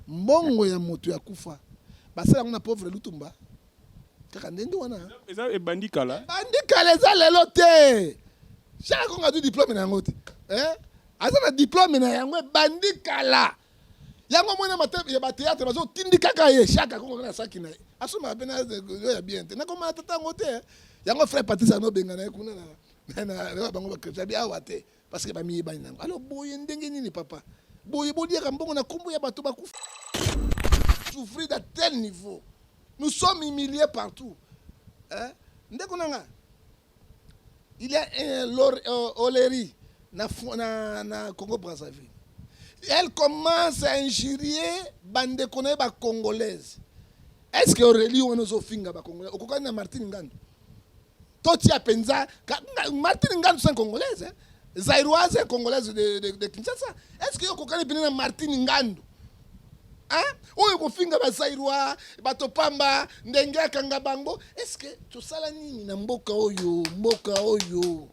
mbongo ya moto ya kufa basala yango na pauvre lutumba kaka ndenge wana eza ebandi kala ebandi kala eza lelo te jacques kongo azwi diplome na yango te eh? aza na diplome na yango ebandi kala yango mwana ya bateatre bazotindi kaka ye jacques kongo na saki na ye asomaka mpe nayo ya bien te nakomana tata yango te yango frère patrice anobengana ye kuna na bango bakristo abi awa te Parce que bamiyebani nango. Alors boye ndenge nini papa? Boye boliaka mbongo na kombo ya bato bakufa. Souffrir d'un tel niveau. Nous sommes humiliés partout. Hein? Ndeko nanga. Il y a un Lor euh, Oleri na, na, na Congo Brazzaville. Elle commence à injurier bandeko na ye bacongolaise. Est-ce que Aurélie wana ozofinga bacongolais? Okokani na Martine Ngando? totia penza Martine Ngandu c'est congolaise hein? Zairoise et congolaise de, de, de Kinshasa. Est-ce que okokani pene na Martine Ngandu? Hein? Oyo kofinga ba Zairois, bato pamba, ndenge akanga bango. Est-ce que tosala nini na mboka oyo, mboka oyo?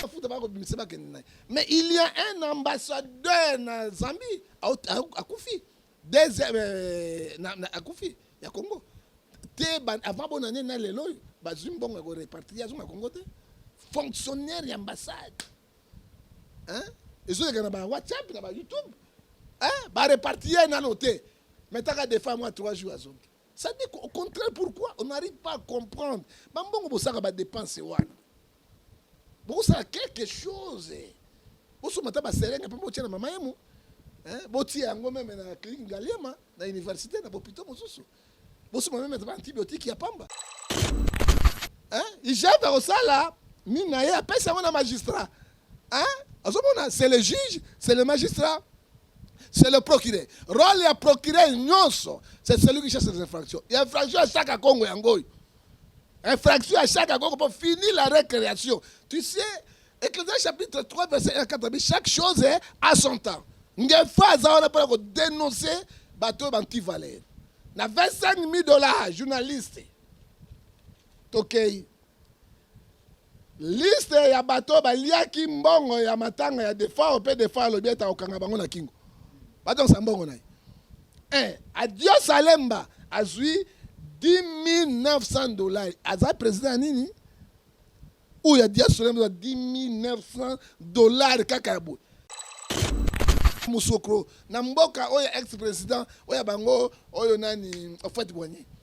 Afuta ba kobimisa ba kende Mais il y a un ambassadeur na Zambie akufi. deuxième euh, na, na akufi ya Congo te avant bona ne na lelo bazwi mbongo ya ko repartir ya zonga Congo te fonctionnaire ya ambassade hein ezoleka na ba WhatsApp na ba YouTube hein ba repartir nano te metaka defa mwa 3 jours azongi Ça dit au contraire pourquoi on n'arrive pas à comprendre. Bambongo bosaka ba dépenses wana. Bosaka quelque chose. Boso mata ba serenga pe botia na mama yemo. Hein? Botia yango meme na clinique Ngaliema na université na bopito mosusu. Boso meme ba antibiotiques ya pamba. Hein? Ijata osala nini na ye apesa yango na magistrat. Hein? Azomona, c'est le juge, c'est le magistrat, c'est le procureur. Rôle ya procureur nyonso, c'est celui qui chasse les infractions. Ya infraction ya chaque Congo yango oyo. Infraction ya chaque Congo pour finir la récréation. Tu sais, Ecclésias chapitre 3 verset 1 à 4 chaque chose est à son temps. Ngefa aza wana pona ko dénoncer bato oyo banti valeur. Na 25 000 dollars journaliste. Tokei. Okay. Liste ya bato oyo baliaki mbongo ya matanga ya Defao mpe Defao alobi ete akokanga bango na kingo, bazongisa mbongo na ye. Eh, Adios Alemba azwi 10900 dollars, aza president ya nini? Oyo ya Adios Alemba 10900 dollars kaka ya boye musokro na mboka oyo ex president oyo bango oyo nani ofet boigny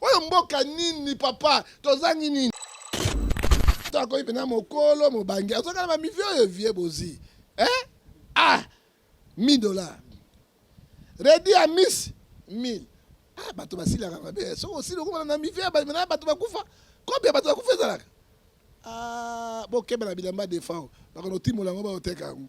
oyo mboka nini papa tozangi nini to akomi mpena mokolo mobangi azokana bamivi oyo vie bozi eh? ah 1000 dollar redi ya miss 1000 ah, bato basilaka mabe soki osili okomana na mivi na bato bakufa kobi ya bato bakufa ezalaka ah, bokeba na bilamba defao bakono timola yango baoteka yango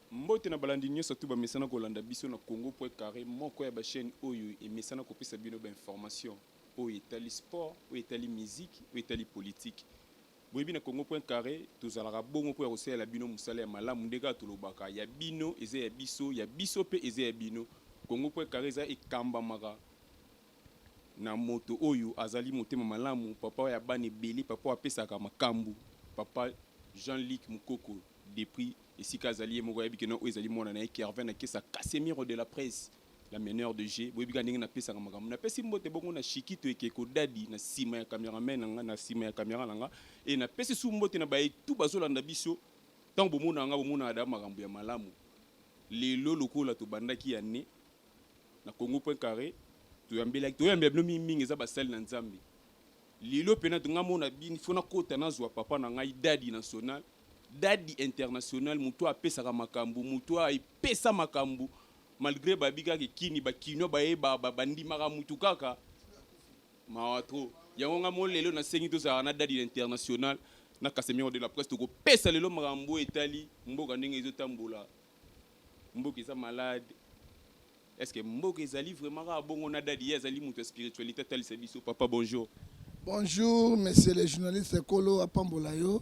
Mbote na balandi nyoso tout bamesana kolanda biso na Congo point carre moko ya ba chaines oyo emesana kopesa bino ba informations oyo etali sport, oyo etali musique, oyo etali politique. Boyebi na Congo point carre tozalaka bongo mpo ya kosalela bino mosala ya malamu nde kaka tolobaka ya bino eza ya biso, ya biso mpe eza ya bino. Congo point carre eza ekambamaka na moto oyo azali motema malamu, papa ya bana ebele, papa oyo apesaka makambu, papa Jean Luc Mukoko. Depuis esika azali ye moko ayebi que non oyo ezali mwana na ye Kervin Akesa Casemiro de la presse la meneur de jeu boyebi kaka ndenge napesaka makambo napesi mbote bongo na Shikito ekeko dadi na nsima ya cameraman na nga na nsima ya camera na nga e napesi su mbote na baye tu bazolanda biso ntango bomonaka nga bomonaka da makambo ya malamu lelo lokola tobandaki ya ne na Congo point carré toyambelaki toyambela bino mingi mingi eza basali na Nzambe lelo mpena tonga mona bini fona kota nazwa papa na ngai dadi national Dady international mutu oyo apesaka makambu mutu oyo epesa makambu malgre bayebi kaka ke kini ba kinois baye ba ba ba ndimaka mutu kaka mawa trop yango nga mo lelo na sengi tozalaka na dady international na casemiro de la presse toko pesa lelo makambu oyo etali mboka ndenge ezo tambola mboka eza malade Est ce que mboka ezali vraiment kaka bongo na dadi ye azali moto ya spiritualite atalisa biso papa bonjour. Bonjour monsieur le journaliste Kolo apambola yo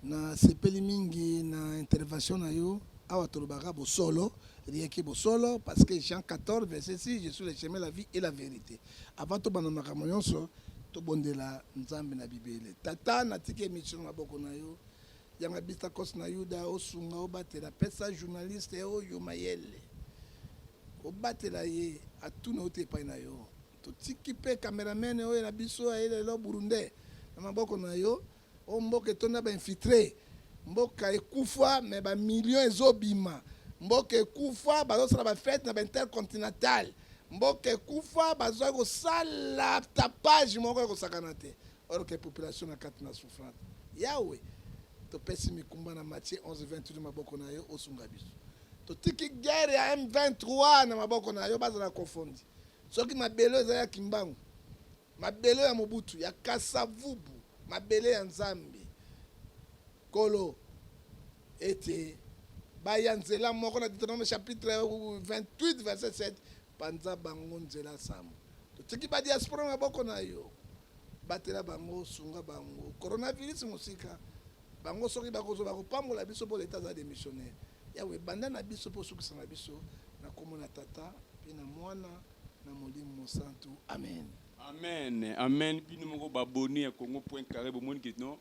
na sepeli mingi na intervention na yo awa tolobaka bosolo rien que bosolo parce que Jean 14 verset 6 je suis le chemin la vie et la vérité avant tobanda makambo nyonso tobondela nzambe na bibele tata natiki emission na maboko na yo Yanga Bistakos na Yuda osunga obatela pesa journaliste oyo mayele obatela ye atuna ote epai na yo totiki mpe cameraman oyo na biso aye lelo burundais na maboko na yo oyo mboka etonda bainfiltre mboka ekufa me bamilio ezobima mboka ekufa bazosala bafete na baintercontinental mboka ekufa bazwaki kosala tapage moko ya kosakana te or que population na kati na souffrance. Yawe, topesi mikumba na Matthieu 11 28 maboko na yo osunga biso. Totiki guerre ya M23 na maboko na yo bazala kofondi. Soki mabele eza ya Kimbangu, mabele ya Mobutu, ya Kasavubu, mabele ya Nzambe. Kolo ete baya nzela moko na Deuteronome chapitre 28 verset 7 Panza bango nzela sam. Totiki ba diaspora na maboko na yo. Batela bango, sunga bango. Coronavirus mosika. Bango soki bakozo bakopambola biso mpo leta aza demissionnaire. Yawe banda na biso mpo osukisa na biso na kombo na Tata mpe na Mwana na Molimo Mosantu. Amen. Amen amen bino moko ba abonne ya congo point carre bomoni que non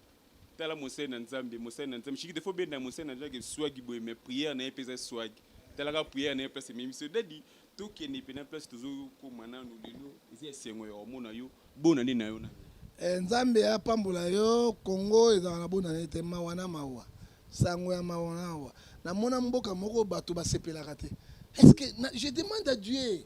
Tala mosali na nzambe mosali na nzambe shikide fo benda mosali na nzambe ke swagi boye mais prière na ye mpe eza swagi tala kaka prière na ye place ememi biso dadi tokende mpe na place tozokoma nanu lelo eza esengo ya komona yo bona nde na yo na eh, nzambe apambola yo kongo ezalaka na bona nete mawa na mawa sango ya mawa na mawa namona mboka moko bato basepelaka te est ce que na, je demande à dieu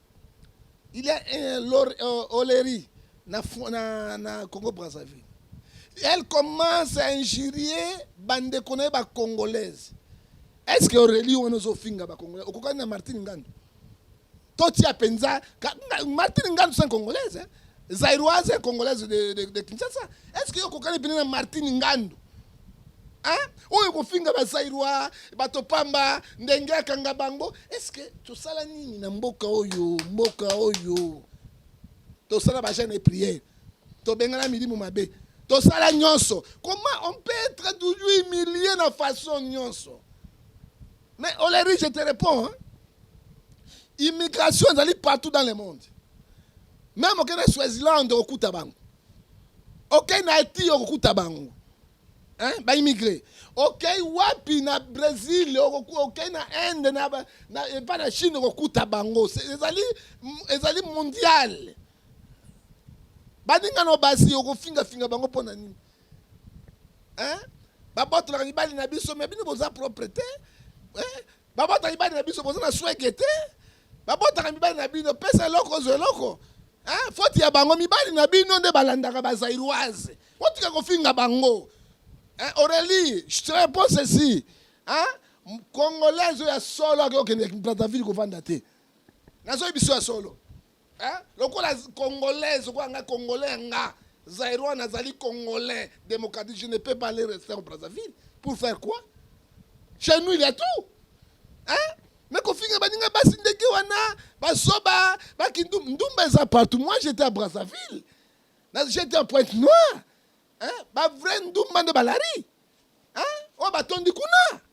Il y a un Lor euh, Oleri na, na, na Congo Brazzaville. Elle commence à injurier bande qu'on est ba congolaise. Est-ce que Aurélie on ozo finga ba congolaise? Okokani na Martine Ngandu. Toti a penza Martine Ngandu c'est congolaise. Hein? Zairoise congolaise de, de, de Kinshasa. Est-ce que okokani pena na Martine Ngandu? oyo kofinga bazairwa bato pamba ndenge akanga bango eske tosala nini na mboka oyo mboka oyo tosala bajane priere tobengana milimu mabe tosala nyonso comment on peut être toujours humilié na façon nyonso mais oleri je te réponds hein? immigration ezali partout dans le monde meme okende swaziland okokuta bango okei na haiti okokuta bango hein? baimigre okei wapi na brésil okei na inde epa na chine okokuta bango ezali, ezali mondiale baninga no basi okofingafinga bango mpo na nini hein? babotolaka mibali na biso me bino boza propre te eh? babota mibali na biso boza na swege te babotaka mibali na bino pesa eloko ozwa eloko eh, foti ya bango mibali na bino nde balandaka bazairoise otika kofinga bango eh, aurelie je te réponds ceci hein? congolais oyo ya solo akokende brazzaville kovanda te nazoyebi biso ya solo eh? lokola congolaise okola ngai congolais ya nga zairois nazali congolais démocratique je ne peux pas aller rester en brazzaville pour faire quoi chez nous il y a tout hein? me kofinga baninga basi ndenge wana basoba bakindu ndumba eza partout moi j'étais à brazzaville j'étais en pointe noire hein? bavrai ndumba nde balari hein? oyo batondi kuna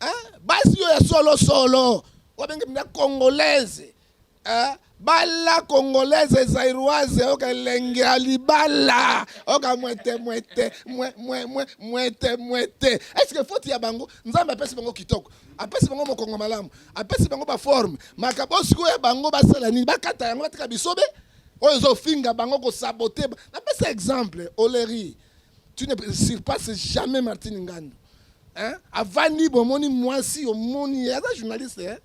hein? basi yo ya solo solo obenge na congolaise hein? bala congolaise zairoise oka elengi ya libala oka mwete mwete mwe, mwe, mwe, mwete mwete eske foti ya bango nzambe apesi bango kitoko apesi bango mokongo malamu apesi bango baforme makambo oyo sikoyo ya bango basala nini bakata yango batika bisobe oyo ezofinga bango kosabote napesa exemple oleri tu ne surpasse jamais martine ngandu hein avandi bomoni mwasi omoni ye aza journaliste hein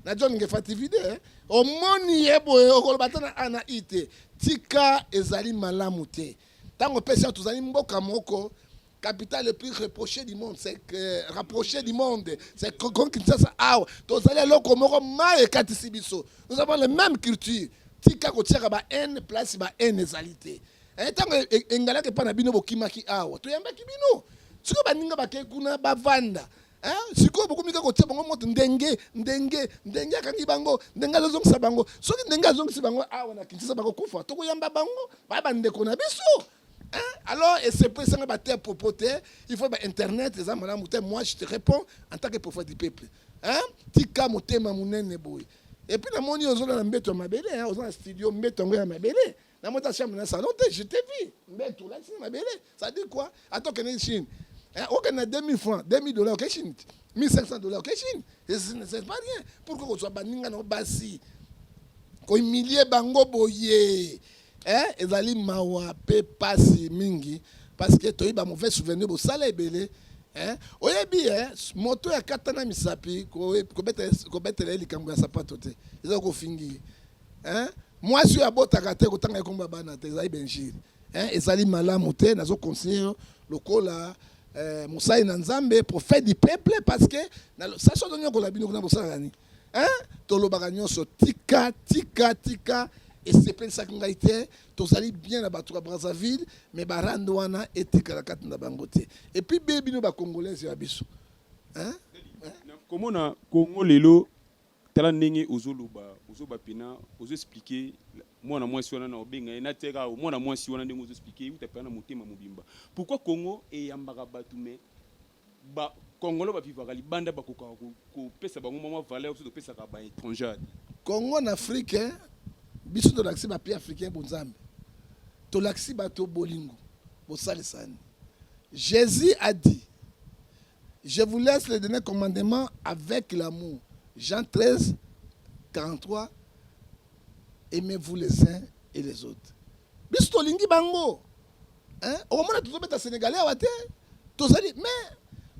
na john ngefa tv de hein? omoni ye boye okoloba ata na a na i te tika ezali malamu te ntango epesi yango tozali mboka moko capitale le plus reproché du monde c'est que rapproché du monde c'est comme kinshasa awa tozali eloko moko mai ekatisi biso nous avons le même culture tika kotiaka ba haine place ba haine ezali te Eh, ntango e, e, engalaki epai na bino bokimaki awa toyambaki bino sikoyo baninga bakei kuna bavanda eh, sikoyo bokomi kaka kotia bango moto ndenge ndenge ndenge akangi bango ndenge azozongisa bango soki ndenge azongisi bango awa na kinsasa bakokufa tokoyamba bango baya bandeko na biso Hein? Alors, et c'est pour ça que tu propoté, il faut Internet, les amis, moi je te réponds en tant que prophète du peuple. Hein? Tika motema munene boy. Et puis, la moni, on a un béton ma belle, on a un studio, un béton ma belle. na mota chambre na salon te je te vis mbetu olakisi na mabele ça dit quoi ata okende chine eh, okende na 2000 francs 2000 dollars oke chine 1500 dollars oke chine c'est pas rien pourquoi kozwa baninga na yo basi kohumilie bango boye eh, ezali mawa mpe pasi mingi parce que toyebi ba mauvais souvenir bosala ebele eh, oyebi eh, moto ya katana misapi kobetela ye likambo ya sapato te eza kofingi ye hein mwasi oyo abotaka te kotanga ekomba bana te ezali benjiri hein ezali malamu te nazo conseiller lokola eh, mosali na nzambe prophète du peuple parce que sasi ozonyokola bino kuna bosalaka nini hein tolobaka nyonso tika tika tika esepelisaki ngai te tozali bien na bato ya brazzaville mais barande wana etikala kati na bango te epuis be bino bacongolaise ya biso hein? komona congo lelo Tala ndenge ozo loba ozo ba pena ozo explique mwana mwasi wana na obenga ye na teka o mwana mwasi wana ndenge ozo explique uta pena na motema mobimba pourquoi Congo eyambaka bato mais ba Congolais ba vivaka libanda bakoka kopesa bango mwa valeur biso topesaka ba étrangers Congo na Afrique hein? biso tolakisi ba pays africain bonzambe tolakisi bato bolingo bosalisani Jésus a dit Je vous laisse le dernier commandement avec l'amour. Jean 13, 43. Aimez-vous les uns et les autres. biso tolingi bango hein? okomona tozobeta sénégalais awa te tozali mais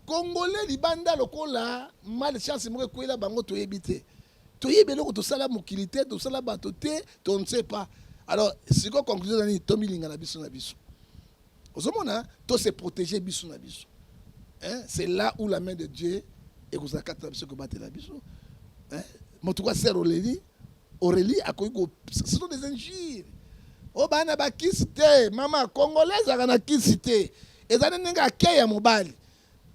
congolais libanda lokola mal chance moko ekwela bango toyebi te toyebi eloko tosala mokili te tosala bato te to ne sait pas alors sikoyo conclusion na nini tomilinga na biso na biso ozomona to se protéger biso na biso hein? c'est là où la main de dieu ekozala kati na biso ekobatela biso hein? moto kwa ser oleli aurélie akoki ko ce sont des injures o oh, bana bakisi te mama congolais ezalaka na kisi te eza nde ndenge akei ya mobali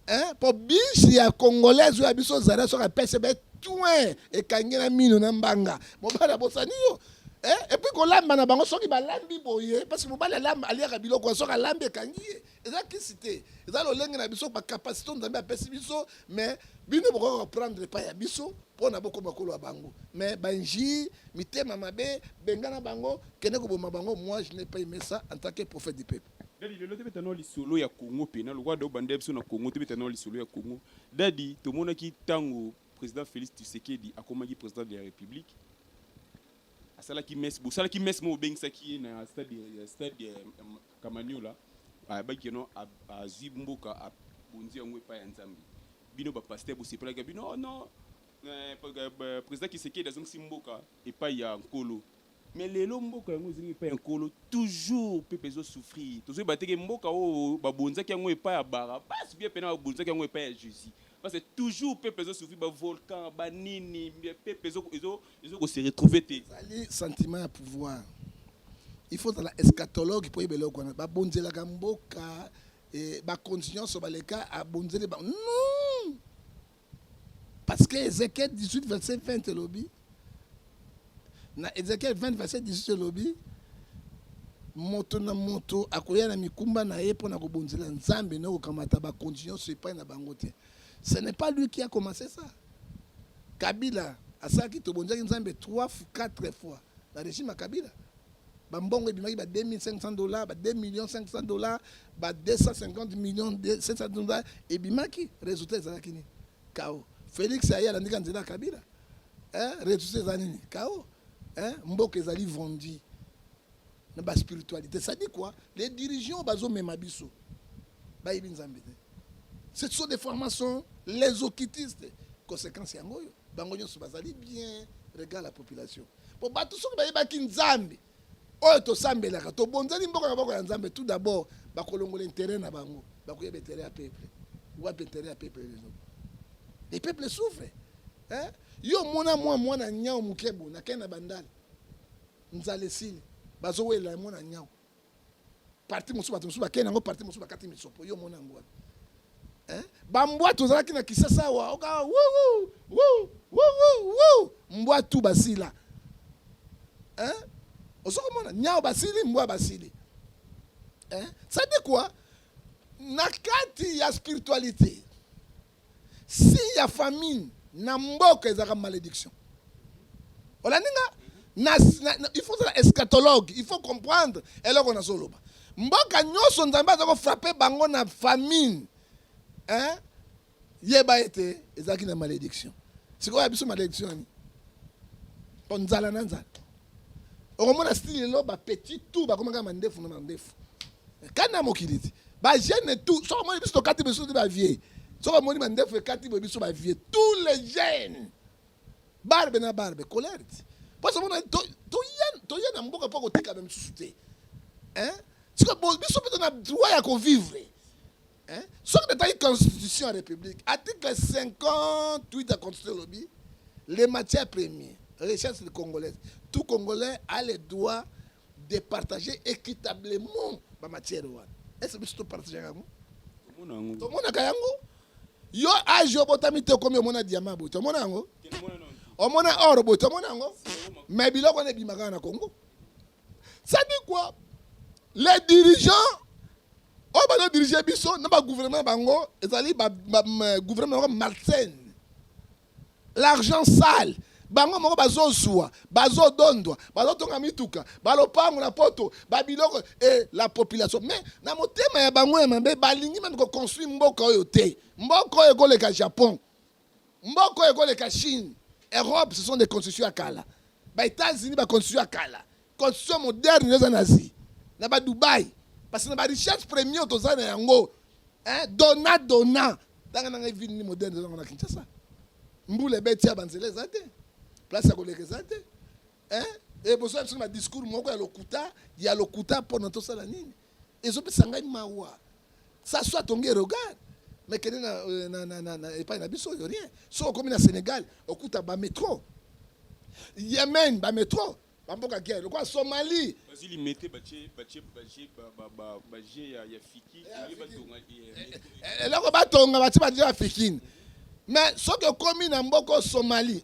eh, po bisi ya congolaise oyo ya biso zara soki apesi be twin ekangi na mino na mbanga mobali abosani yo eh, epuis kolamba na bango soki balambi boye parce mobali alamba aliaka biloko soki alambi ekangi ye eza kisi te eza lolenge na biso bacapacité nzambe apesi biso mais bino bokoki koprendre epai ya biso mpo na bokoma kolo ya bango mais banji mitema mabe bengana bango kende koboma bango moi je n'ai pas aimé ça en tant que prophète du peuple Dadi lelo tobeta nao lisolo ya Congo pena lokola da obanda biso na Congo tobeta nao lisolo ya Congo. Dadi tomonaki ntango president Felix Tshisekedi akomaki president de la Republique asalaki messe bosalaki messe moko obengisaki ye na stade ya stade ya Kamanyola ayebaki keno azwi mboka abonzi yango epai ya Nzambe bino bapaster bosepelaki bino oh non eh, eh, president Tshisekedi azongisi mboka epai ya nkolo Mais lelo mboka yango ezongi epai ya nkolo toujours peuple ezo souffrir tozo yeba te ke mboka oyo ba bonzaki yango epai ya Barabas bien pena ba bonzaki yango epai ya Jesus parce que toujours peuple ezo souffrir ba volcan ba nini mais peuple ezo ezo ezo ko se retrouver te ezali sentiment ya pouvoir il faut ozala escatologue mpo oyeba eloko wana babonzelaka mboka eh, bakonzi nyonso baleka abonzeli bango non Parce que Ezekiel 18 verset 20 elobi na Ezekiel 20 verset 18 elobi moto na moto akoya na mikumba na ye mpo na kobonzela Nzambe na kokamata bakonzi nyonso epai na bango te. Ce n'est pas lui qui a commencé ça. Kabila asalaki tobonzaki Nzambe 3 4 fois na regime ya Kabila. ba mbongo ebimaki ba 2500 dollars ba 2 millions 500 dollars ba 250 millions 700 dollars ebimaki résultat ezalaki nini kao Felix aye alandika nzela ya Kabila eh, résultat eza nini kao eh, mboka ezali vendi na ba spiritualité ça dit quoi les dirigeants bazomema biso bayebi nzambe te ce sont des formations les okitistes conséquence yango oyo bango nyonso bazali bien regarde la population mpo bato soki bayebaki nzambe oyo tosambelaka tobonzani mboka na boko ya nzambe tout d'abord bakolongola interet na bango bakoyeba interet ya peuple wapi interet ya peuple lelo le peuple souffre eh? yo omona mwa mwana nyau moke bo nakei na bandale nzala esili bazowelela mwana nyau parti mosusu bato mosusu bakei nango parti mosusu bakati misopo yo omona yango wapi eh? bambwa tozalaki na kisasa awa oka mbwa tu basila eh? osoki omona nyao basili mbwa basili eh? sadi kua na kati ya spiritualité Signe ya famine na mboka ezalaka malediction. Olandi nga? Na, na, na, il faut ozala eschatologue, il faut comprendre eloko nazoloba. Mboka nyonso Nzambe aza kofrape bango na famine. Hein? Yeba ete ezalaki na malediction. Sikoyo ya biso malediction nini? Mpo nzala na nzala. okomona style lelo ba petit tout bakoma kaka mandefu na mandefu kana mokili ti ba jeune tout soko omoni biso tokati biso ti ba vieux soko omoni mandefu ekati boye biso ba vieux tous les jeunes barbe na barbe colère ti mposo omona toya na mboka mpo kotikana misusu te sikoyo biso mpe to na droit ya kovivre Hein? Soki natali constitution ya république article 58 ya constitution elobi le matière premier richesse de congolaise tout congolais a le droit de partager équitablement bamatière wana ese biso topartagaka yango tomonaka yango yo age obotami te okomi omona diama boye tomona yango omona or boye tomona yango mais biloko wana ebimaka na congo sadi quoi les dirigeants oyo bazo dirige biso na ba gouvernement bango ezali ba, ba, ba gouvernement bango malsaine l'argent sale bango moko bazozwa bazodondwa bazotonga mituka balopango na poto babiloko e la population mais na motema ya bango ya mabe balingi meme koconstruire mboka oyo te mboka oyo ekoleka japon Mboka oyo ekoleka Chine, Europe, ce sont des constitutions ya kala. Ba Etats-Unis ba constitution ya kala. Constitution moderne ndio eza na Asie. Na ba Dubai. Parce que na ba richesses premières toza na yango. Hein, dona dona. Tanga na ngai ville ni moderne eza na Kinshasa. Mbula ebeti ya banzela eza te. Place ya koleka eza te. eh, eh, bozoya biso na badiscour moko ya lokuta ya lokuta mpona tosala nini ezopesa ngai mawa sa soit tonge regard mais kende na, euh, na, na, na, na epai na biso oyo rien soki okomi na sénégal okuta bametro yemen bametro bamboka guerre lokola somalie bazi limete batie batie baje baje ya ya fiki batonga eloko batonga batie baje ya fikini mais soki okomi na mboka somalie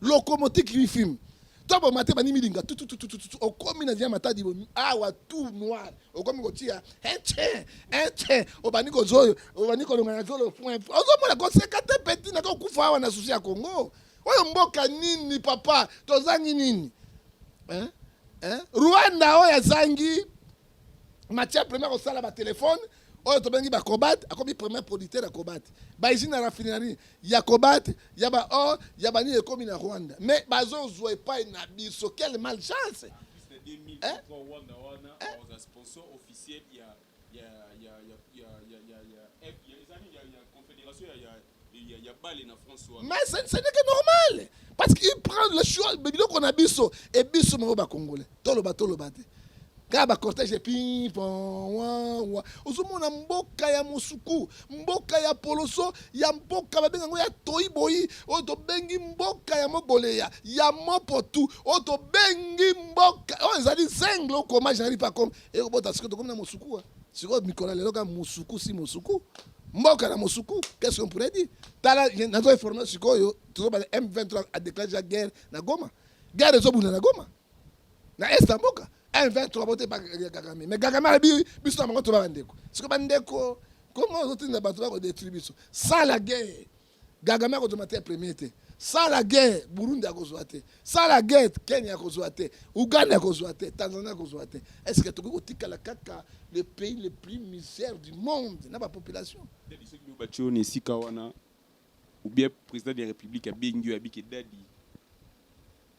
locomotive qui filme to bomate bani milinga tututututu okomi na via matadi bo awa tout noir okomi kotia eche eche obani kozoyo obani kolonga na zolo point ozomona koseka te peti na kokufa awa na susi ya kongo oyo mboka nini papa tozangi nini eh? Eh? rwanda oyo azangi matière première kosala batelefone oyo tobengi bacobate akomi premier producteur ya cobate baizine ya raffinerie ya cobate ya baor ya banini ekomi na rwanda mais bazozwa epai na biso quelle malchance eh? eh? Mais ce n'est que normal. Parce qu'il prend le choix, mais biloko na biso, et biso moko ba congolais. Toloba toloba te. Kaka ba cortège ping pong wa wa. Ozomona mboka ya musuku, mboka ya poloso, ya mboka babenga ngo ya toyi boyi, oyo tobengi mboka ya mogoleya, ya mopotu, oyo tobengi mboka oyo ezali zengle okoma jaripa comme ekobota sikoyo tokomi na musuku. Sikoyo mikolo ya lelo kaka musuku si musuku. mboka na mosuku qu'est-ce qu'on pourrait dire tala nazo informe sikoyo tozobala M23 a déclaré déjà guerre na Goma guerre ezobunda na Goma na est ya mboka M23 bote ba Kagame mais Kagame alobi biso na bango toba bandeko sikoyo bandeko comment ozotinda bato bakodetruire biso sala guerre Kagame akozwa matière première te. Sala guerre, Burundi akozwa te. Sala guerre, Kenya akozwa te. Ouganda akozwa te. Tanzanie akozwa te. Est-ce que tokoki kotikala kaka le pays le plus misère du monde na ba population? Dadi soki yo batio na esika wana ou bien président de la République abengi yo abike dadi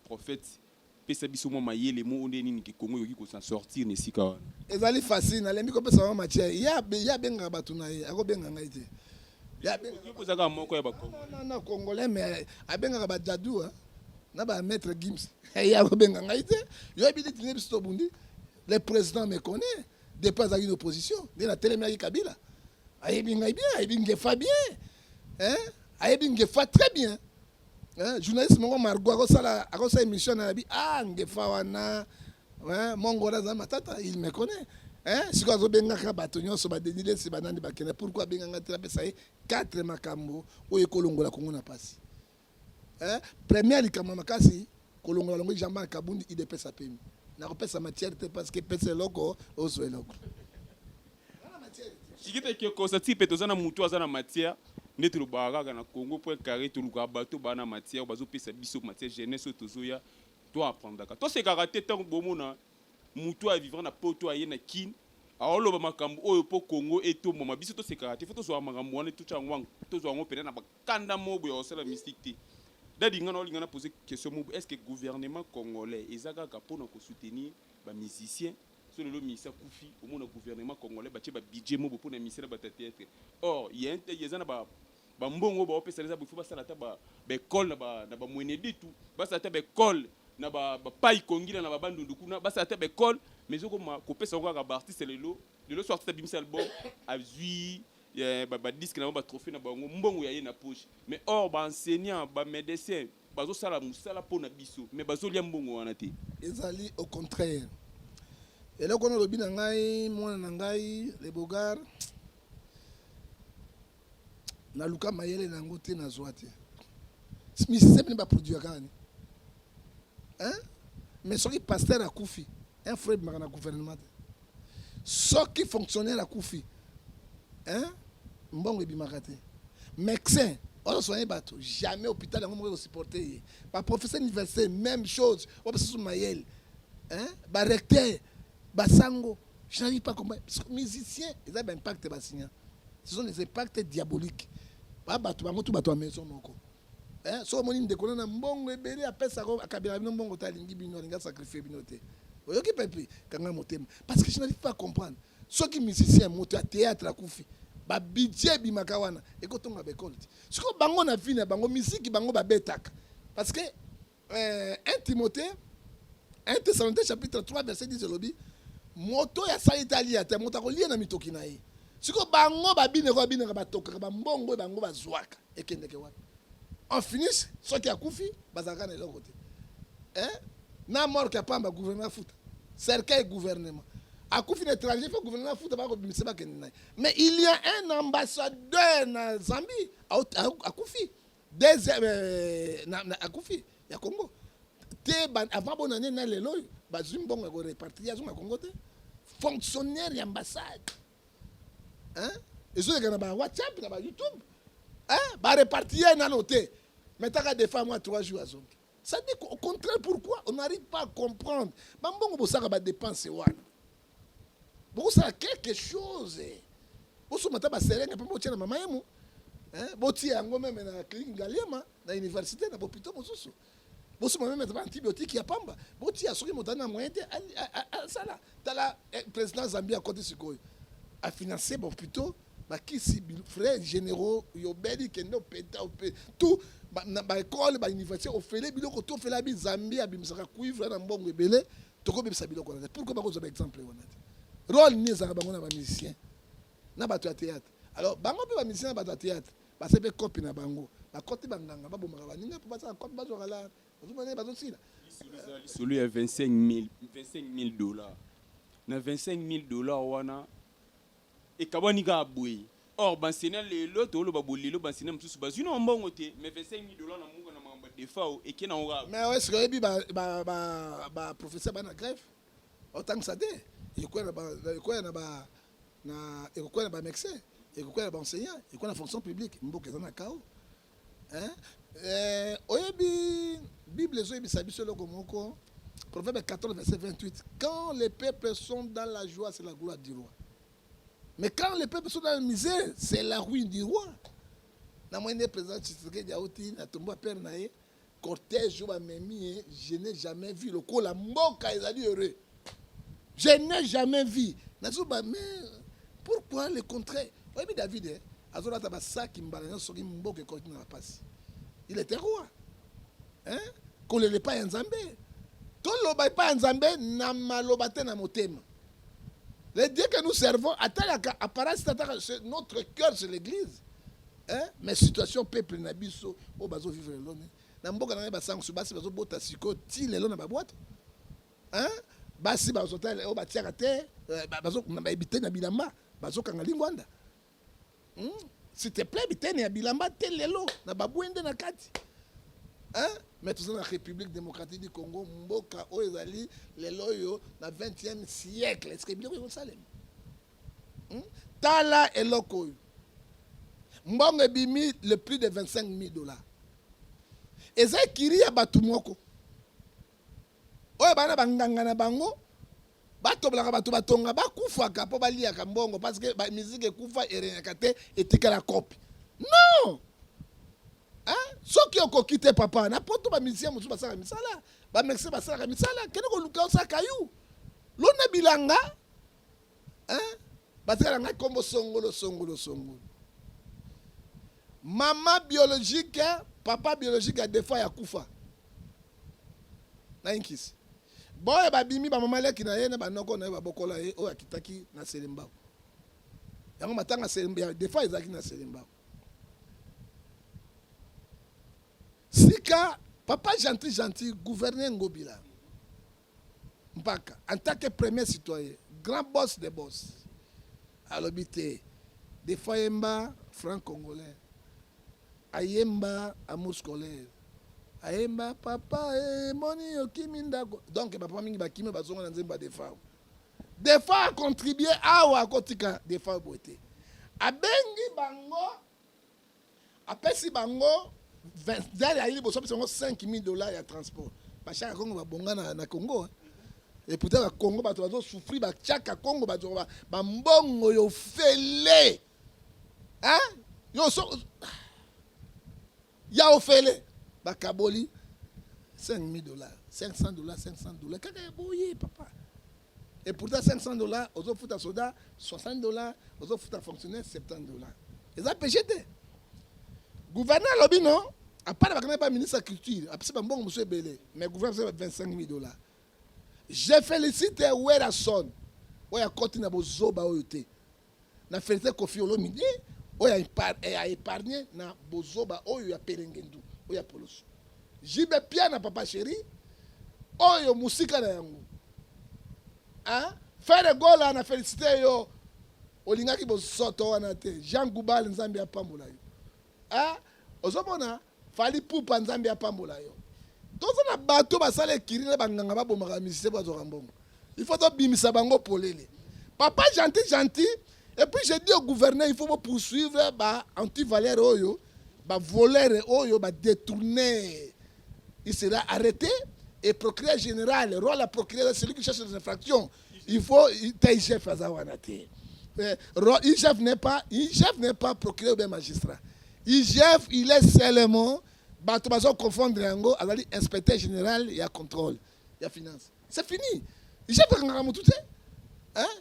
prophète Pesa biso mwa mayele mo nde nini ke Congo ekoki ko s'en sortir na esika wana. Ezali facile nalembi kopesa bango matière ye abengaka bato na ye akobenga ngai te ozaka moko ya bakongolana congolais me abengaka badadu na bamaître gims ye akobenga ngai te yo yebi neti nde biso tobundi le président me connaît depuis azalaki na opposition nde natelemelaki kabila ayebi ngai bien ayebi ngefa bien ayebi ngefa très bien Hein, journaliste moko Margot akosala akosala émission na bi ah ngefa wana hein mongola za matata il me connaît hein siko azo bengaka bato nyonso ba Denis Lessi ba nani bakenda pourquoi abenganga te apesa ye quatre makambo oyo ekolongola Kongo na pasi hein première likambo makasi kolongola longo jamba ya kabundi idepesa pemi nakopesa matière te parce que pesa eloko ozwa eloko Chikita kiokosa tipe toza na mutu aza na matière nde tolobaka kaka na Congo point carré tolukaka bato bana matière bazopesa biso matière jeunesse oyo tozoya to apprendaka tosekaka te ntango bomona mutu oyo avivra na poto aye na kin aoloba makambo oyo mpo Congo etomboma biso tosekaka te fo tozwaka makambo wana totya yango yango tozwa yango mpenza na bakanda moko boye akosala mystique te dadi nga naolinga na pose question moko est ce que gouvernement congolais eza kaka mpo na kosoutenir ba musiciens Soki lelo Misa akufi, omona gouvernement congolais batie ba budget mobo pona Misa na batu ya theatre. Or, il ya un te, eza na ba ba mbongo oyo baopesa eza il faut basala ata ba ba ecole na ba na ba mweneditu, basala ata ba ecole na ba ba pai kongila na ba bandundu kuna, basala ata ba ecole mais ezokoma kopesa yango kaka ba artistes lelo. Lelo soki artiste abimisi album, azui ba ba disques na bango, ba trophees na bango, mbongo ya ye na poche mais or ba enseignants, ba medecins, bazo sala musala mpo na biso mais bazo lia mbongo wana te. Ezali au contraire eloko wana olobi na ngai mwana na ngai le bogar naluka mayele na yango te nazwa te misisa bini baproduire kaka ni mais soki pasteur akufi un frère bimaka na gouvernement te soki fonctionnaire akufi hein? mbongo ebimaka te médecin ozo soigne bato jamais hôpital yango moko ekosupporte ye baprofesseur université même chose oyo basusu mayele hein? barecteur basango je n'arrive pas comprendre musicien eza baimpacte basinya ce sont des impactes diaboliques ba bato bango tu bato ya maison moko Eh, so omoni ndeko na mbongo ebele apesaka akabela bino mbongo te alingi bino alingi asacrifie bino te oyoki pepe kanga motema parce que je n'arrive pas à comprendre soki musicien moto ya théâtre akufi babidje ebimaka wana ekotonga baekole te sikoyo bango na vie na bango miziki bango babetaka parce que Eh, 1 Timothée 1 Thessaloniciens chapitre 3 verset 10 elobi moto oyo asali te alia te moto akolia na mitoki na ye siko bango babinaka babinaka batokaka bambongo oyo bango bazwaka ekendeke wapi en finish soki akufi bazalaka na eloko te eh? na morke ya pamba gouvernement afuta cercueil gouvernement akufi na étranger fo gouvernement afuta bakobimisa bakende na ye mais il y a un ambassadeur na zambie akufi deuxième euh, na, na akufi ya Congo te avant bona ne na lelo bazwi mbongo ya ko repartir ya zonga Congo te fonctionnaire ya ambassade hein ezoleka na ba WhatsApp na ba YouTube hein ba repartir nano te metaka defa mwa 3 jours azongi Ça dit au contraire pourquoi on n'arrive pas à comprendre. Bambongo bosaka ba dépenses wana. Bokosala quelque chose. Bosomba ta ba serenge mpe botia na mama yemo. Hein? Botia yango meme na clinique Ngaliema na université na bopito mosusu. Bosomba meme ta ba antibiotiques ya pamba. Botia soki moto na moyen te asala tala eh, président Zambia akoti sikoyo. A financer bopito bakisi vrai generaux yobeli kende opeta ope tout na ba école ba université ofele biloko to ofela bi Zambie abimisaka cuivre na mbongo ebele tokobebisa biloko wana pourquoi bakozwa ba exemple wana te role ni ezalaka bango na ba musicien na bato ya théâtre alors bango mpe ba musicien na bato ya théâtre base mpe kopi na bango bakoti banganga babomaka baninga mpo bazala kopi bazwaka la bazomana bazosila lisolo ya 25 000 dollars na 25 000 dollars wana Ekabwani kaka boye. Or ba enseignants lelo toloba boye lelo ba enseignants mususu bazui nao mbongo te mais 25000 dollars na muka na makambo ya defao eke nango kaka boye. Mais est ce que oyebi ba ba ba ba professeurs ba na grève otangisa te ekoya na ba ekoya na ba na ekoya na ba mexes ekoya na ba enseignants ekoya na fonction publique mboka eza na chaos. Hein? Eh, oyebi Bible ezoyebisa biso eloko moko Proverbe 14 verset 28 quand les peuples sont dans la joie c'est la gloire du roi mais quand les peuples sont dans la misère c'est la ruine du roi na moyende président Tshisekedi auti na tombo ya père na ye Cortège oyo bamemi ye, je n'ai jamais vu lokola mboka ezali heureux. Je n'ai jamais vu. Nazo ba mais pourquoi le contraire? Oyebi David eh? azolata basaki mbala nyonso soki mboka ekoti na bapasi il était roi hein? kolela epai ya nzambe toloba epai ya nzambe na maloba te na motema Le Dieu que nous servons, atalaka apparence tataka notre cœur c'est l'église. Hein? Mais situation peuple na biso o bazo vivre lelo ne. Na mboka na ba sangs basi bazo bota siko ti lelo na ba boîte. Hein? Basi bazo tala o batiaka te euh, bazo na ba ebite na bilamba bazo kanga lingwanda. hmm? s'il te plaît biteni ya bilamba te lelo na babwende na kati hein? mais toza na république démocratique du congo mboka oyo ezali lelo oyo na 20e siècle eske biloko ekosalema hmm? tala eloko oyo mbongo ebimi le plus de 25 000 dollars eza ekiri ya bato moko oyo bana banganga na bango batobolaka bato batonga bakufaka mpo baliaka mbongo parce que ba musique ekufa eregnaka te etikala copie non hein? soki okoki te papa na poto bamusicien mosusu basalaka misala bamexe basalaka misala kende koluka osala kayu lona bilanga batika na ngai nkombo songolo songolo songolo mama biologique papa biologique ya defa ya kufa na inkisi boye babimi bamama leki na ye na banoko na ye babokola ye oyo akitaki na selembao yango matanga ya defa ezalaki na selembao sika papa gentil gentil gouverne ngobila Mpaka en tant que premier citoyen grand boss de boss alobi te defa ayemba franc congolais ayemba amour scolaire ayemba papa emoni eh, okimi ndako donc bapapa mingi bakimi bazonga na nzembo ya defa defa acontribue awa akotika defa boye te abengi bango apesi bango dale ayi liboso apesi bango 5000 dollars ya transport bashaka kongo babonga na, na congo hein? et pourtant na congo bato bazosouffrir batiaka congo bato bambongo yo fele hein? yo so ya ofele bakaboli 5000 dollars 500 dollars 500 dollars kaka ya boye papa Et pourtant 500 dollars, ozo futa soda 60 dollars, ozo futa fonctionnaire 70 dollars. Eza péché te. Gouverneur alobi non, à part bakana ba ministre de culture, apesi ba mbongo monsieur Belé, mais gouverneur apesi 25 000 dollars. Je félicite Werrason oyo akoti na bozoba oyo te. Na felicite Koffi Olomide oyo a epargne na bozoba oyo ya perengendu oyo ya poloso. JB Piana papa cheri oyo musika na yango. Hein? Ferre Gola na felicite yo olingaki bosoto wana te. Jean Goubal Nzambe apambola yo. Hein? Ozomona Fally Ipupa Nzambe apambola yo. Toza na bato basala ekiri na banganga babomaka misise po azwaka mbongo. Il faut tobimisa bango polele. Papa gentil gentil et puis je dis au gouverneur il faut bo poursuivre ba antivaleur oyo ba voleur oyo ba détourner. Il sera arrêté et procureur général, roi la procureur, celui qui cherche les infractions, il faut ta chef aza wana te eh, IGF n'est pas IGF n'est pas procureur ou bien magistrat IGF il est seulement bato bazo confondre yango azali inspecteur général ya contrôle ya finance c'est fini IGF akangaka motu te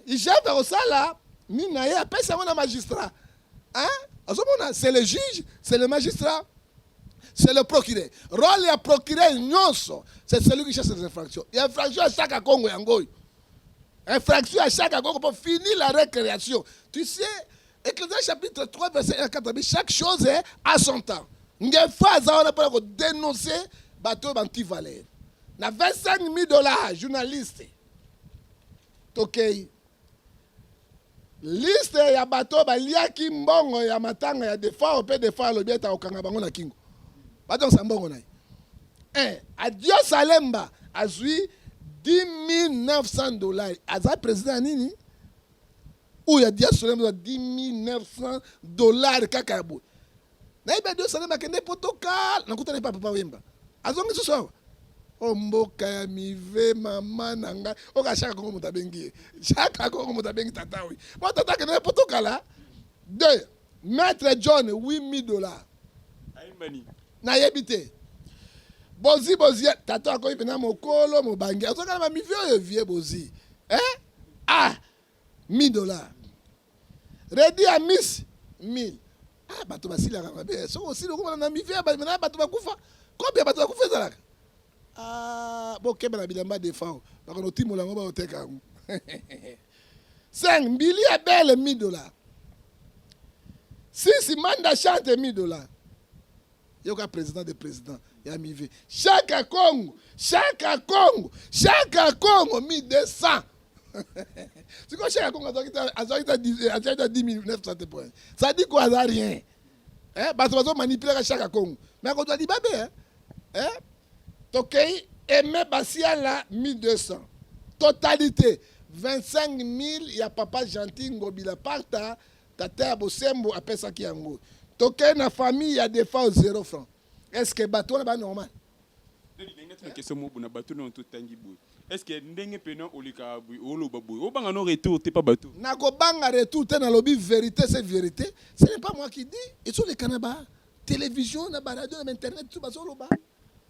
IGF akosala nini na ye apesa yango na magistrat hein azomona c'est le juge c'est le magistrat c'est le procureur role ya procureur nyonso c'est celui qui chasse les infractions ya infraction ya saka kongo yango oyo infraction ya saka kongo mpo fini la récréation tu sais ecclésia chapitre 3 verset 1 4 chaque chose est à son temps ngefa aza wana mpona kodenonce bato oyo banti valeur na 25 000 dollars journaliste tokei okay. Liste ya bato oyo baliaki mbongo ya matanga ya Defao mpe Defao alobi ete akokanga bango na kingo, bazongisa mbongo na ye. Eh, Adios Alemba azwi 10900 dollars, aza president ya nini? Oyo Adios Alemba 10900 dollars kaka ya boye nayebi adio salema akende poto kala nakutana epa papa wemba azongi susu awa o oh, mboka ya mive mama na ngai oka oh, shaka kongo moto abengi ye shaka kongo moto abengi tata oyo po tata akende poto kala de maître john 8000 dollars nayebi te bozi bozi tata akomi mpena mokolo mobange azokana bamivi oyo vie bozi eh? ah 1000 dollars Reddy Amis 1000 ah, bato basilaka mabe soki osili okomana na mivi na bato bakufa kopi ya bato bakufa ezalaka ah, bokeba na bilamba defao bakona otimola yango baoteka yango 5 mbili ya bele 1000 dollars sisi manda chante 1000 dollars yoka president de president ya mive shaka congo shaka congo shaka congo 1200 sikoyo shaka congo azwaki ta 1900 te point sadi ko aza rien eh, bato bazomanipulaka shaka congo me akozwa libabe eh? Eh? tokei eme basiala 1200 totalité 25 000 ya papa gentil ngobila parta Tata ya bosembo apesaki yango. Tokei na famille ya defa au zero franc. Est-ce que bato wana ba normal? question mobu na bato na totangi boye est-ce que ndenge pena oleka boye oloba boye obanga no retour te pa bato na kobanga retour te nalobi vérité c'est vérité ce n'est pas moi qui dis ezoleka na ba télévision na ba radio na ba internet tout bazoloba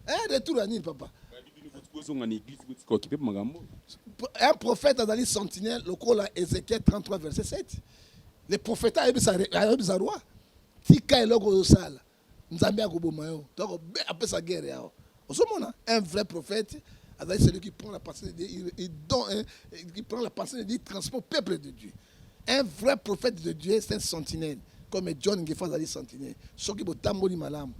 Eh, retour ya nini papa bozonga na église botika okipe makambo un prophète azali sentinelle lokola ézéchiel 33 verset 7 le prophète ayebisa roi tika eloko ozosala nzambe akoboma yo donc apesa guerre yawa ozomona un vrai prophète azali celui qui prend la pensée de dieu il, il, don, hein, qui prend la pensée de dieu transport peuple de dieu Un vrai prophète de Dieu, c'est un sentinelle. Comme John Ngefa azali sentinelle. Soki botamboli malamu.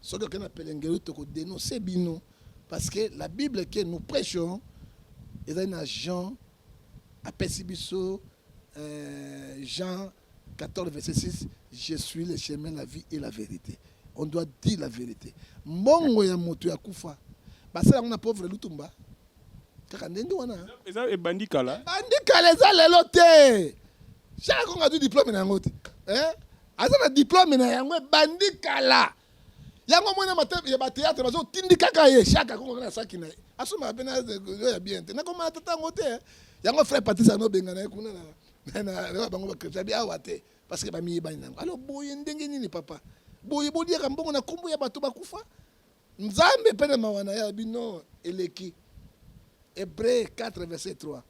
Soki okenda na pelengelo toko dénoncer bino parce que la Bible que nous prêchons ezali na Jean apesi biso euh, Jean 14 verset 6 je suis le chemin la vie et la vérité. On doit dire la vérité. Mbongo ya moto ya kufa basala yango na pauvre Lutumba kaka ndenge wana eza ebandi kala ebandi kala eza lelo te shaka kongo azwi diplome na yango te eh? aza na diplome na yango ebandi kala yango mwana ya bateatre bazotindi kaka ye shaka kongo na saki na ye asomaka mpe nayo ya bien te nakomana tata yango te eh? yango frère patrice anobengana ye kuna na bango bakristo abi awa te parce que bamiyebani na yango alors boye ndenge nini papa boye boliaka mbongo na nkombo ya bato bakufa Nzambe pe na mawa na ye alobi non eleki. Hebreu 4 verset 3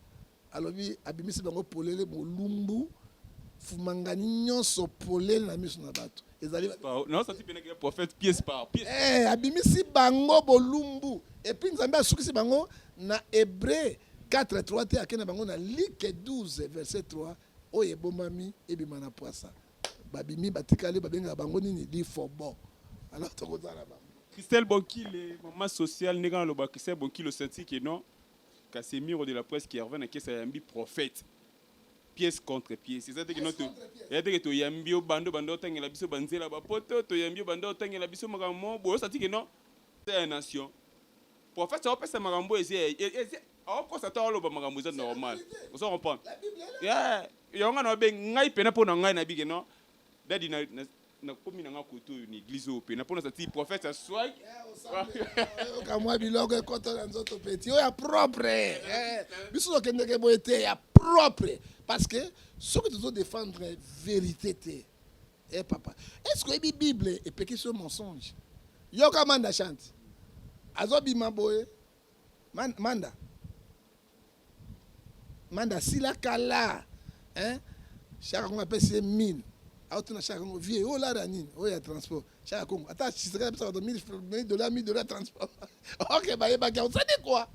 alobi abimisi bango polele bolumbu fumangani nyonso polele na miso na bato ezali eh, abimisi bango bolumbu epuis nzambe asukisi bango na hebreu 4 3 te akenda bango na like 12 verset 3 oyo ebomami ebima na pwasa babimi batikali babengaka bango nini lifobo alors tokozala bango Christelle Bonkile, maman sociale, ndenge naloba Christelle Bonkile osanti que non Casemiro de la presse qui revient na kesa yambi prophète pièce contre pièce eza te que non eza te que toyambi yo bando bando otangela biso banzela bapoto toyambi yo bando otangela biso makambo boyo osanti que non ya nation Prophète ça opesa makambo eze eze aokosa to aloba makambo eza normal. Ozo comprendre? Yeah. Yango nga na obe ngai pena pona ngai na bige non. Daddy na na komi na nga koto oyo na église oyo pena pona sa ti prophète ça soit okamwa biloko ekota na nzoto petit oyo ya propre eh, biso tokendeke boye te ya propre parce que soki tozo défendre vérité te Eh papa, est-ce que la Bible est péché ce mensonge Yoka manda chante. Azobi maboye. Man, manda. Manda sila kala. Hein? Chaka konga pèse 1000. Aho tuna chaka kongo vie oh la nini? Oh ya transport. Chaka kongo. Ata chisaka pèse 1000 dollars, 1000 dollars transport. OK, bah yeba ka. Vous savez quoi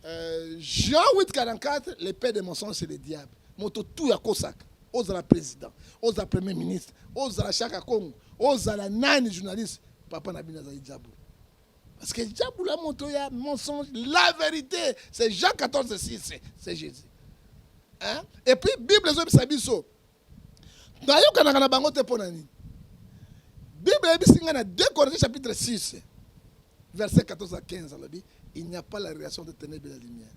Euh, Jean 844, les pères des mensonges, c'est le diable. Moto tout ya kosaka. Ozala président, ozala premier ministre, ozala chaka Congo, ozala nani journaliste, papa na bino azali diable. Parce que diable la moto ya mensonge, la vérité, c'est Jean 14 6, c'est Jésus. Hein? Et puis Bible ezobisa biso nayokanaka na bango te mpo na nini bible eyebisi ngai na 2 corinthiens chapitre 6 verset 14 à 15 alobi il n'y a pas la relation de ténèbre et la lumière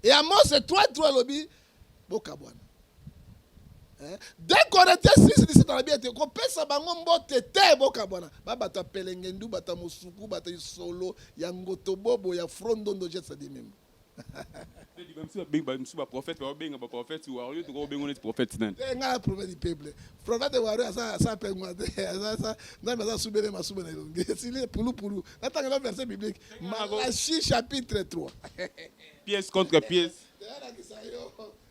et amos 3 3 alobi bokabwana 2 eh? corinthiens 6 17 alobi ete kopesa bango mbote te bokabwana babato ya pelengendu bato ya mosuku bato ya isolo ya ngotobobo ya frondondo jetsadimembo bamisusu baprofete baobenga baprofete wario tokoki obengo neti profete nani eh, ngai profete peuple profete wario aza pengwa te nzambe aza subele masuba na elongi esili pulupulu natanga na verset biblique malachi chapitre 3 pièce contre pièce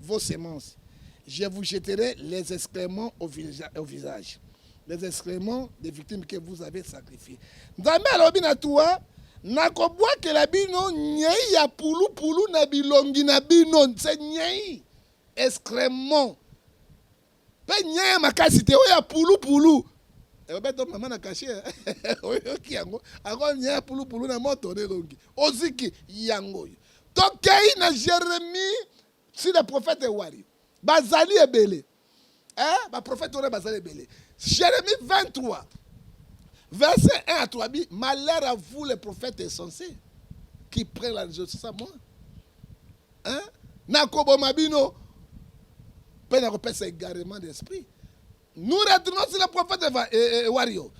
vos semences je vous jeterai les excréments au, visa, au visage les excréments des victimes que vous avez sacrifiées nzambe alobi na tua nakobwakela bino nyei ya pulupulu na bilongi na bino nse nyei excréments Pe nyee makasi te oyo ya pulu pulu. Ebeto eh, mama na kashe eh. oyoki yango ako nyee pulu pulu na moto na elongi oziki yango oyo tokei na Jeremie si le prophète ewari bazali ebele eh, baprofete wana bazali ebele Jeremie 23 verset 1 à 3 bi malheur à vous les prophètes insensés qui prennent la religion c'est ça moi hein? nakoboma bino mpe nakopesa égarement d'esprit nous retournons sur le prophète Eva, et, eh, et, eh, wario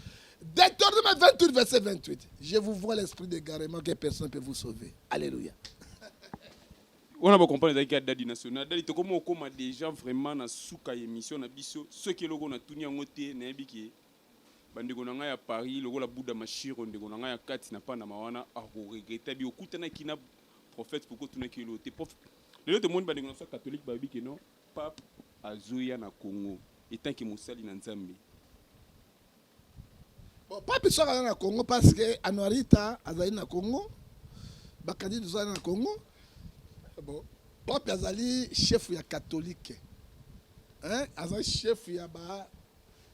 Deutéronome 28 verset 28 je vous vois l'esprit d'égarement que personne ne peut vous sauver alléluia wana bacomprendre ezalaki ya dadi national dadi tokoma okoma déjà vraiment na suka ya émission na biso soki eloko natuni yango te nayebi ke bandeko na ngai ya paris lokola buda mashiro ndeko na ngai ya kati na panama wana akoregreta bi okutanaki na prophète pourquoi tu n'as que l'autre prophète lelo te moni ba ndeko na sa catholique ba bi que non pape azoya na Congo etant que mosali na Nzambe bon pape soka na na Congo parce que Anuarita azali na Congo ba kadi tozali na Congo bon pape azali chef ya catholique hein azali chef ya ba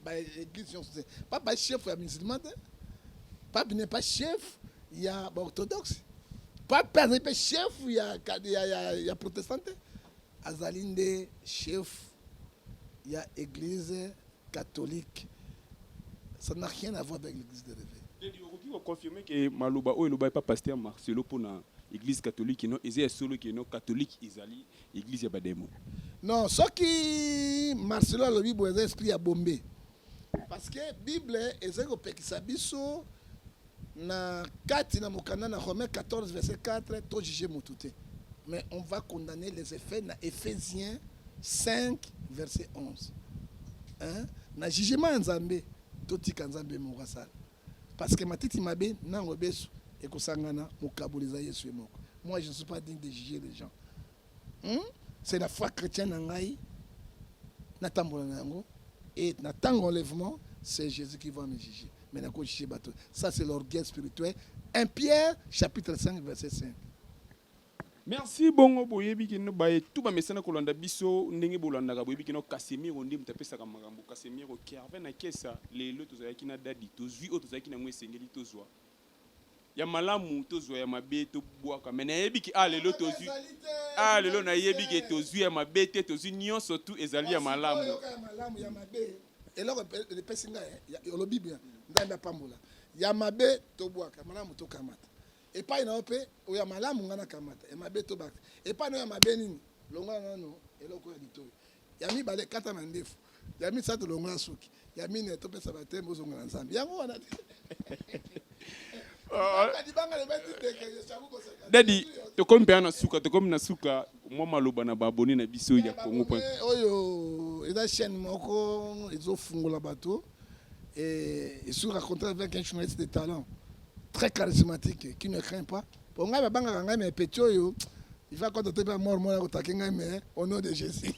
ba église nyonso te pape ba chef ya musulman te pape n'est pas chef ya ba orthodoxe pape mpe azali mpe chef ya, ya, ya, ya protestant te azali nde chef ya église catholique ça n'a rien à voir avec l'église de réveil Daddy, okoki koconfirme ke maloba oyo elobaki pa paster marcelo mpo na église catholique no eza ya solo ke no catholique ezali Eglise ya bademo. Non, soki Marcelo alobi boye eza esprit ya bombe. Parce que Bible ezali kopekisa biso na kati na mokanda na Romains 14 verset 4 to juger mutu te. Mais on va condamner les effets na Ephésiens 5 verset 11. Hein? Na jugement ya Nzambe totika Nzambe moko asala. Parce que matiti mabe na ngobesu ekosangana mokaboli eza yesu ye moko moi je ne suis pas digne de juger les gens hmm? c'est la foi chrétienne na ngai natambola na yango et na ntango enlèvement c'est jésus qui va me juger mais nakojuge bato ça c'est l'orgueil spirituel 1 pierre chapitre 5 verset 5 Merci bongo boyebi kino baye tout bamesana kolanda biso ndenge bolandaka boyebi kino Casemiro nde moto apesaka makambo Casemiro Kervin na Kesa lelo tozalaki na dadi tozwi oyo tozalaki na yango esengeli tozwa ya malamu tozwa ya mabe tobwaka me nayebi ke ah lelo tozwi ah lelo nayebi ke tozwi ya mabe te tozwi nyonso tu ezali ya malamu eloko epesi ngai olobi bien nzambe apambola ya mabe tobwaka malamu tokamata Epai na yo mpe oyo ya malamu ngai nakamata, ya mabe tobaka. Epai na yo ya mabe nini? Longola nano eloko ya litoi. Ya mibale, kata mandefu. Ya misato, longola suki. Ya mine, topesa bateme, ozonga na Nzambe. Yango wana te. Dadi, tokomi mpe na suka, tokomi na suka mwa maloba na baabone na biso ya Congo Point. Oyo eza chaîne moko ezofungola bato et surtout raconter avec un journaliste de talent. très charismatique qui ne craint pas po ngai babangaka ngai mais petit oyo il va kota te mpe amor moko akotake ngai mais au nom de jésus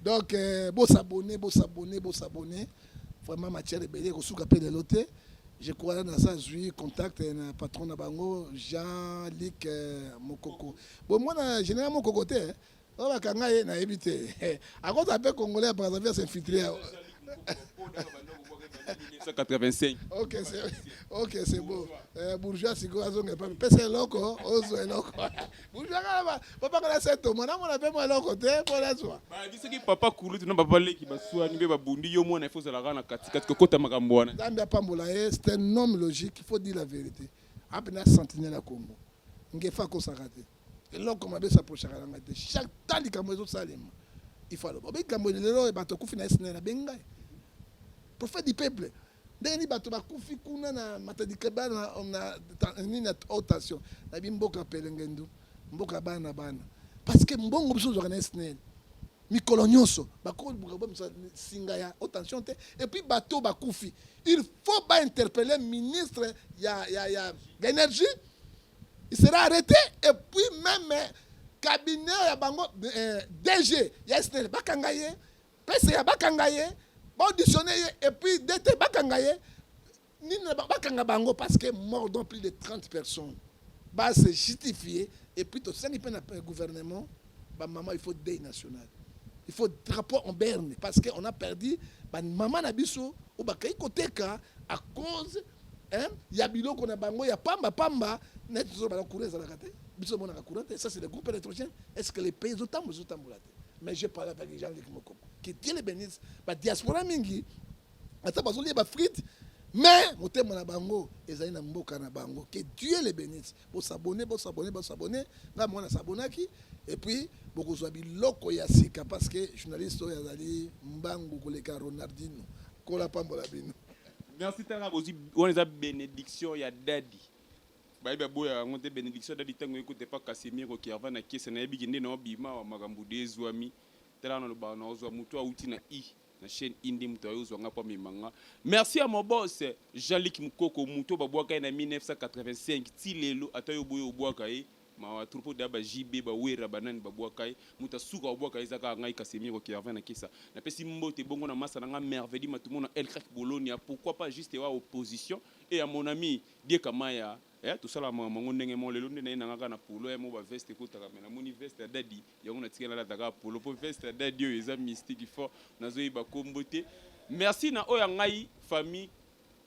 donc euh, bosabone bosabone bosabone vraiment matière ebele ekosuka mpe lelo te je crois na sa zwi contact na patron na bango jean lik euh, mokoko bomona général mokoko te oyo bakanga ye nayebi te akozala mpe congolais ya brazzaville s'infiltre ya 1985 ok c'est ok c'est beau eh, bourgeois sikoyo azonga epa pesa eloko ozwa eloko bourgeois kaka babanga na seto mwana amona mpe mwa eloko te mpo nazwa bayebi soki papa kulutu na papa leki baswani mpe babundi yo mwana ifo ozalaka na katikati kokota makambo wana nzambe apambola ye c'est un homme logique il faut dire la vérité ampena sentinelle ya congo ngefa akosaka te eloko mabe sa prochaka na ngai te chaque temps likambo ezosalema ifo aloba obe likambo lelo oyo bato akufi na snl abengi ngai prophète du peuple ndenge nini bato bakufi kuna na matadikaba nini na haute tension na bimboka pelengendu mboka bana bana parce que mbongo biso ozwaka na snl mikolo nyonso bakoluka bomisa singa ya haute tension te epuis bato bakufi il faut bainterpelle ministre ya, ya, ya, ya energie il sera arrêté et puis même eh, cabinet ya bango eh, DG ya SNEL bakanga ye PCA bakanga ye baauditionne ye et puis DT bakanga ye nini bakanga bango parce que mordons plus de 30 personnes ba se justifier et puis tosengi mpe na gouvernement bamama il faut deuil national il faut drapeau en berne parce que on a perdu bamama na biso oyo bakei koteka à cause hein, ya biloko na bango ya pamba pamba neti tozoloba na courant ezalaka te biso omonaka courant te ça c'est le groupe électrogène est ce que les pays ezotambola ezotambola te mais je parle avec jean luc mokoko que dieu le bénisse badiaspora mingi ata bazolia bafrite mais motema na bango ezali na mboka na bango que dieu le bénisse bosabone bosabone bosabone ngai moko nasabonaki et puis bokozwa biloko ya sika parce que journaliste oyo azali mbangu koleka ronaldino kola pambola bino Merci tala bozwi wana eza benediction ya dadi bayebi aboya yango nde benediction dadi ntango ekuta epa casimiro kerva na kese nayebi kende na obima wa makambo de ezwami tala wana lobaka na ozwa motu awuti na i na chaîne indi moto ayo ozwa nga mpo amema nga merci ya mobos jean lik mokoko moto babwaka ye na 1985 ti lelo ata yo boye obwaka ye Mawa trop oyo dejà ba JB ba werra ba nani ba bwaka ye mutu ya suka ko bwaka ye eza kaka ngai Casemiro Kervin na kesa na pesi mbote bongo na masta na ngai Mervedi Matumbo na El Crack Bologna pourquoi pas juste wa opposition et ya mon ami Die Kamaya eh tosalaka makambo yango ndenge moko lelo nde naye na ngai kaka na polo eh moko ba veste ekotaka mais namoni veste ya dadi yango na tikali nalata kaka polo po veste ya dadi oyo eza mystique fort nazo yeba kombo te merci na oyo ya ngai famille